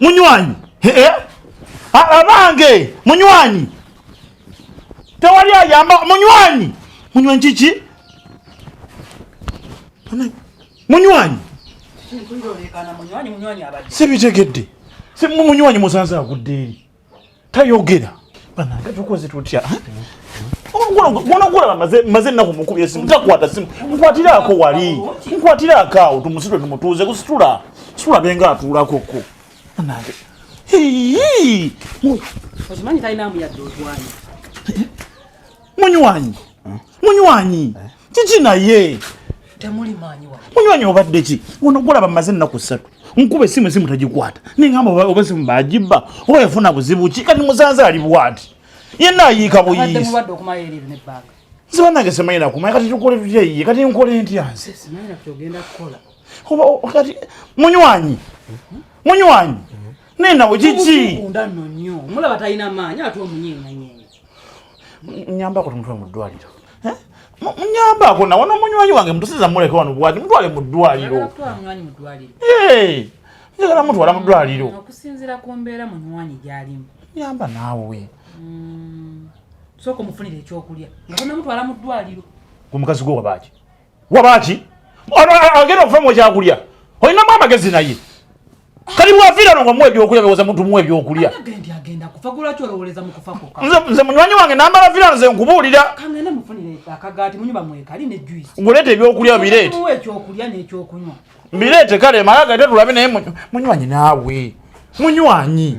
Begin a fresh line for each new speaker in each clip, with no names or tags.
munywanyi eh? abange munywanyi tewali ayamba munywanyi munywanyi kiki munywanyi sibitegedde munywanyi musanze agudde eri tayogera banange tukoze tutya gwonogulaba maze ennaku mukubi esimu takwata simu nkwatiraako wali nkwatiraako awo tumusitwe tumutuuze kusitula situla benga atuulako ko banange
munywanyi
munywanyi kiki naye temuli maanyi
wa munywanyi obadde ki
ono gulaba mmaze ennaku ssatu nkuba esimu esimu tagikwata nengamba oba esimu bagibba oba yafuna buzibu ki kati musanze ali bwati yenna ayiika buyiisi
nze banange simanyi
nakumanya kati tukole tutya iye kati nkole ntya nze
kati
munywanyi munywanyi naye nawe kiki nyambako tumutwe mu ddwaliro munyambako nawe nomunywanyi wange mutusiza muleke wano bwati mutwale mu ddwaliro njagala mutwala mu ddwaliro mm, okusinzira ku mbeera
munywanyi gyalimu nyamba naawe
mm,
sooka omufunira ekyokulya nga tonamutwala mu ddwaliro omukazi gwe
wabaaki wabaki ono agenda okufa mwekyakulya olinamu amagezi naye kali bwafira no ngomwe byokulya bewoza muntu mwe byokulya
nze munywanyi wange
nambala fira nze nkubuulira
ngulete ebyokulya bireete bireete kale
malaga tetulabe naye munywanyi naawe munywanyi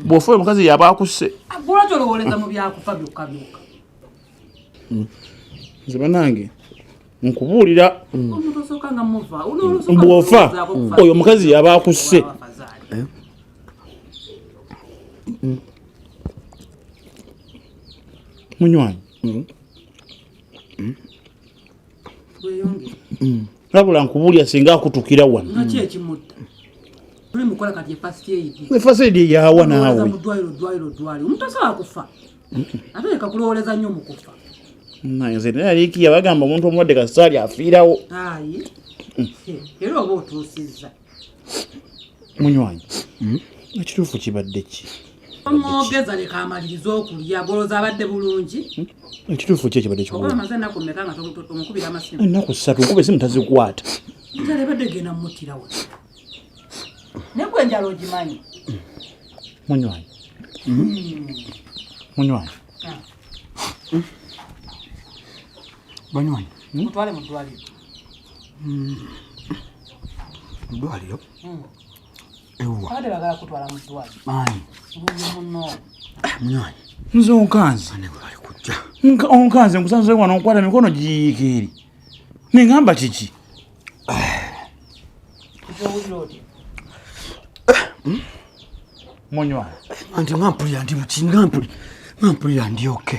bwofa omukazi yaba
akusse hmm.
nze banange nkubuulira
bwofa
oyo omukazi yaba akusse eh? hmm. munywanyi hmm. Mm. nabula nkubulya singa akutukira wano
efasidi yawa
naawe
nze
naye aliikiya bagamba omuntu omulwadde kasaali afiirawo
era oba otuusizza
munywanyi hmm? ekituufu kibadde ki omwogeza
leka amalirize okulya goloza abadde bulungi hmm? ekituufu ki ekibadde
kimaze enaku meka nga
omukubira amasimu enaku ssatu nkuba esimu
tazikwata njala ebadde
genda mumutirawe naye gwe enjala ogimanyi
munywanyi hmm. munywanyi ah. banywanyi mutwale
mu ddwaliro
mudwaliro
hmm. nze onkanze
onkanze nkusanze wano nkwata mikono giyiika eri nengamba kiki munywana anti nga mpulira
ndi buki nga mpulira ndi oke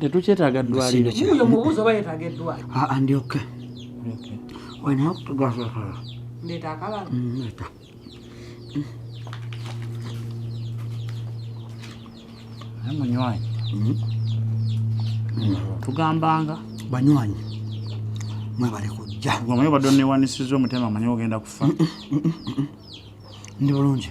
tetukyetaaga ddwaliro
munywanyi
tugambanga banywanyi mwebale kujja gwemanyi
obadde
onewanisiza
omutima
amanyi ogenda kufa ndi bulungi